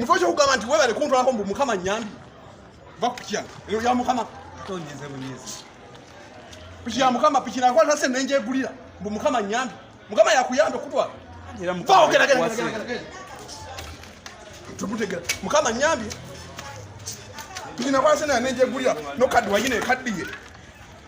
mufaki okugamba nti webale kuntwalako mbu mukama nyambi vakukya eyo ya mukama piki ya mukama piki nakwata se nenjegulira mbu mukama nyambi mukama yakuyambe kutwala tukutegera mukama nyambi piki nakwata se nenjegulira nokaddi wayina ekaddiye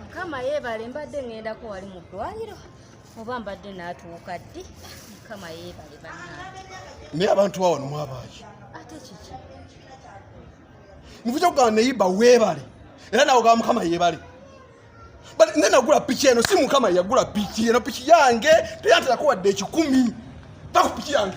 mukama yebale mbadde ŋŋendako wali mu ddwaliro oba mbadde naatuuka ddi mukama yebale bannange naye abantu ba wano mwabaaki ate kiki nkuja kugamba neyiba weebale era nawe ogamba mukama yebale ne nagula piki eno si mukama yagula piki eno piki yange teyanterakowadde ekikumi takupiki yange